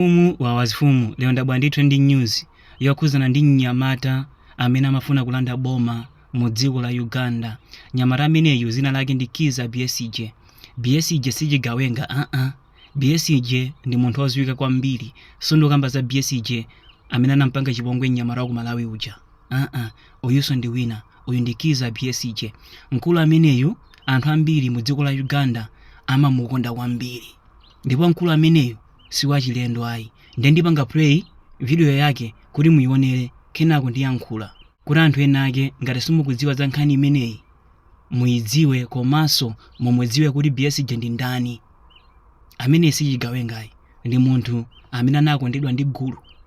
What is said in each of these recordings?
Mfumu wa mafumu lero ndabwera ndi trending news yokhuzana ndi mnyamata amene amafuna kulanda boma mu dziko la Uganda. Nyamata ameneyu zina lake ndi Kiza Besigye. Besigye sichigawenga aa. Besigye ndi munthu oziwika kwambiri. Sindikukamba za Besigye amene anampanga chipongwe mnyamata wa ku Malawi uja. Aa, uyuso ndi wina. Uyu ndi Kiza Besigye. Mkulu ameneyu anthu ambiri mu dziko la Uganda amamukonda kwambiri. Ndipo mkulu ameneyu siwachilendo ayi nde ndipanga play video yake kuti muyionere kenako ndiyankhula kuti anthu ena ake ngati simukudziwa za nkhani imeneyi muyidziwe komanso mumudziwe kuti Besigye ndi ndani. Ameneyi si chigawengayi, ndi munthu amene anakondedwa ndi gulu.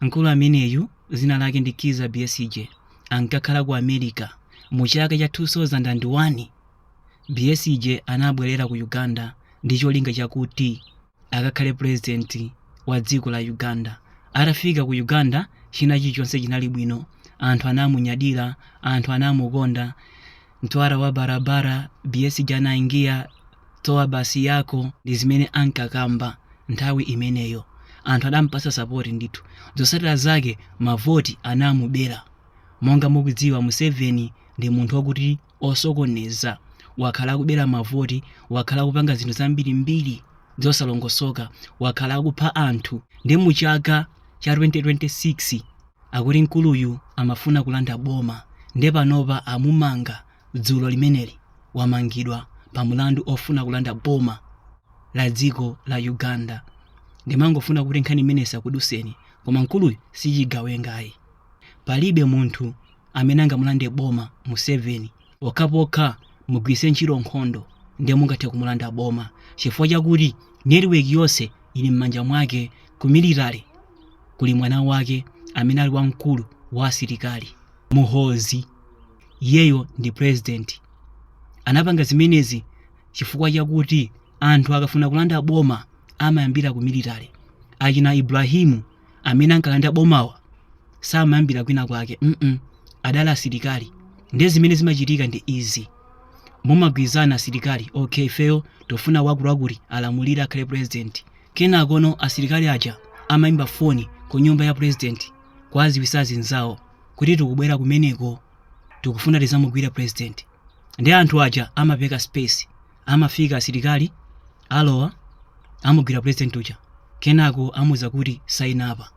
Mkulu ameneyu, zina lake ndi Kizza Besigye, ankakhala ku America. Mu chaka cha 2001, Besigye anabwerera ku Uganda ndi cholinga chakuti akakhale pulezidenti wa dziko la Uganda. Atafika ku Uganda, china chilichonse chinali bwino. Anthu anamunyadira, anthu anamukonda mtwara wa barabara Besigye anaingia toa basi yako ndi zimene ankakamba nthawi imeneyo anthu adampasa sapoti ndithu zotsatira zake mavoti anamubera monga mukudziwa museveni ndi munthu wakuti osokoneza wakhala akubera mavoti wakhala akupanga zinthu zambirimbiri zosalongosoka wakhala akupha anthu nde mu chaka cha 2026 Akuti mkuluyu amafuna kulanda boma nde panopa amumanga dzulo limeneli wamangidwa pa mulandu ofuna kulanda boma la dziko la Uganda. Ndimangofuna kuti nkhani imeneyi isakuduseni koma mkuluyu sichigawenga ayi. Palibe munthu amene angamulande boma Museveni. pokhapokha mugwiritse ntchito nkhondo ndiye mungathe kumulanda boma chifukwa chakuti network yonse ili m'manja mwake ku military kuli mwana wake amene ali wamkulu wa asilikali Muhoozi iyeyo ndi president anapanga zimenezi chifukwa chakuti anthu akafuna kulanda boma amayambira ku military achina ibrahimu amene ankalanda bomawa samayambira kwina kwake mm adali asilikali ndiye zimene zimachitika ndi izi mumagwirizana asilikali okay ifeyo tofuna wakutiwakuti alamulire akhale president kenakono asilikali aja amayimba foni ku nyumba ya president kuwaziwisa azinzawo kuti tikubwera kumeneko tikufuna tizamugwire president nde anthu aja amapereka space amafika asilikali alowa amugwira president uja kenako amuuza kuti saina apa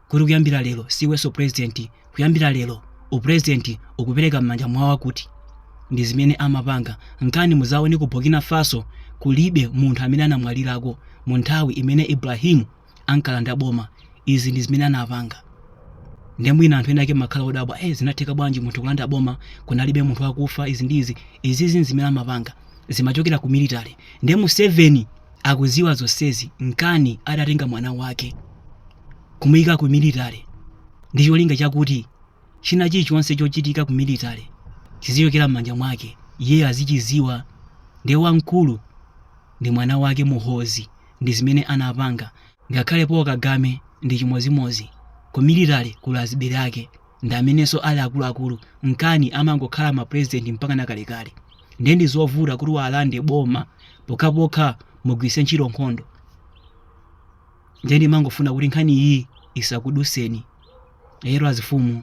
kuti kuyambira lero siiwenso president kuyambira lero upresident ukupereka m'manja mwa awa akuti ndi zimene amapanga nkana muzaone ku burkina faso kulibe munthu amene anamwalirako mu nthawi imene ibrahimu ankalanda boma izi ndi zimene anapanga nde mwina anthu ena ake makhala odabwa eh zinatheka bwanji munthu kulanda boma kunalibe munthu akufa izi ndi izi izizi zimene amapanga zimachokera ku military nde museveni akuziwa zonsezi nkana adatenga mwana wake kumuyika ku military ndi cholinga chakuti china chilichonse chochitika ku military chizichokera m'manja mwake iye azichiziwa ndiye wamkulu ndi mwana wake muhoozi ndi zimene anapanga ngakhale paul kagame ndi chimozimozi ku military kuli azibale ake ndi amenenso ali akuluakulu nkana amangokhala ma president mpaka nakalekale ndiye ndi zovuta kuti muwalande boma pokhapokha mugwiritse ntchito nkhondo ndiye ndimangofuna kuti nkhani iyi isakuduseni lero azifumu